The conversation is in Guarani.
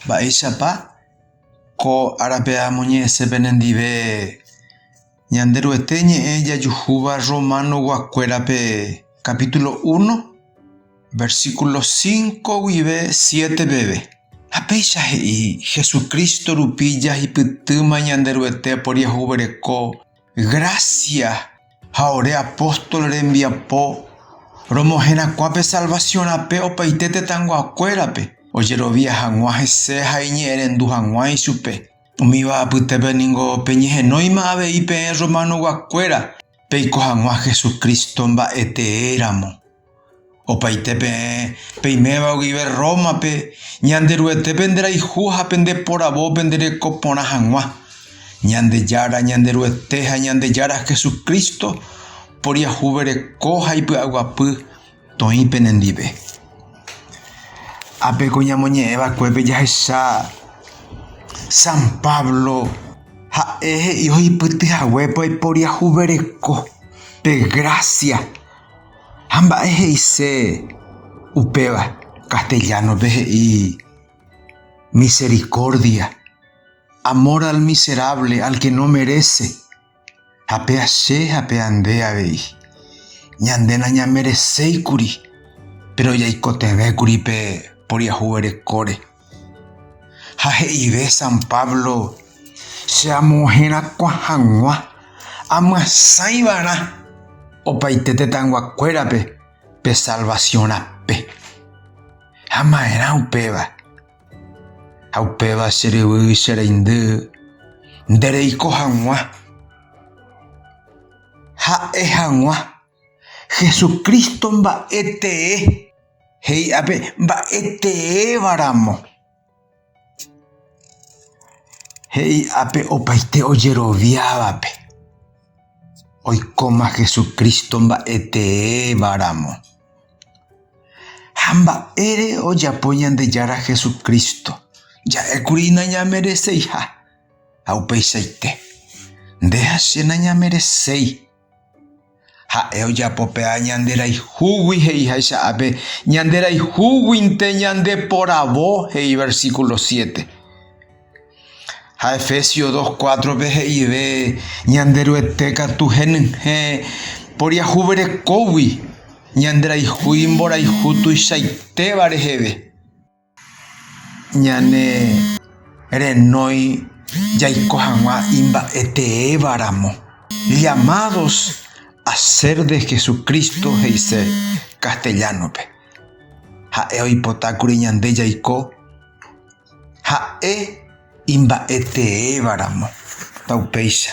Mba'éichapa ko árape amoñe'ẽse penendive Ñanderuete ñe'ẽ jajuhúva Romanoguakuérape capítulo uno, versículo cinco guive siete peve. Ha péicha he'i, Jesucristo rupi jahipytýma Ñanderuete oporiahuvereko Grásia ha ore apóstol rembiapo romoherakuã pe salvasiõ rape opaite tetãnguakuérape, ojerovia hag̃ua hese ha iñe'ẽrendu hag̃ua ichupe. Umíva apytépe ningo peñehenóima avei peẽ rromanog̃uakuéra peiko hag̃ua Jesucristo mba'e tee ramo. Opaite peẽ peiméva guive Rómape, Ñanderuetépe nderayhu ha pende poravo pendereko porã hag̃ua. Ñandejára Ñanderuete ha Ñandejára Jesucristo poriahuvereko ha ipy'aguapy toĩ penendive. Ápe ko ñamoñe'ẽvakuépe jahecha San Pablo ha'e he'i ohipytyhaguépe oiporiahuvereko pe grásia. Ha mba'e he'ise upéva? Castellano-pe he'i misericordia, amor al miserable, al que no merece. Ha péa che ha péa nde avei, ñande nañamereséikuri, péro jaikotevẽkuri pe mboriahuverekóre. Ha he'ive San Pablo, Che amoherakuã hag̃ua amyasãi va'erã opaite tetãyguakuérape pe salvasiõ rape. Ha maerã upéva. Ha upéva che ryvy, che reindy, nde reiko hag̃ua. Ha'e hag̃ua. Jesucristo mba'e tee he'i ápe mba'e teéva ramo. He'i ápe opaite ojeroviávape oikóma Jesucristo mba'e teéva ramo. Ha mba'ére ojapo Ñandejára Jesucristo, ja'ékuri nañamereseiha ha upeichaite. Nde ha che nañamereséi. Ha'e ojapo pe A ñande rayhúgui he'iháicha ápe, ñande rayhúguinte ñande poravo, he'i versículo siete. Ha Efesios 2, 4 pe he'ive ñande Ruete katu henyhẽ poriahuverekógui ñande rayhu imborayhu tuichaitéva reheve. Ñane renói jaiko hag̃ua imba'eteéva ramo, llamados a ser de Jesucristo he'ise castellano-pe. Ha'e oipota kuri ñande jaiko ha'e imba'eteéva ramo. Upéicha.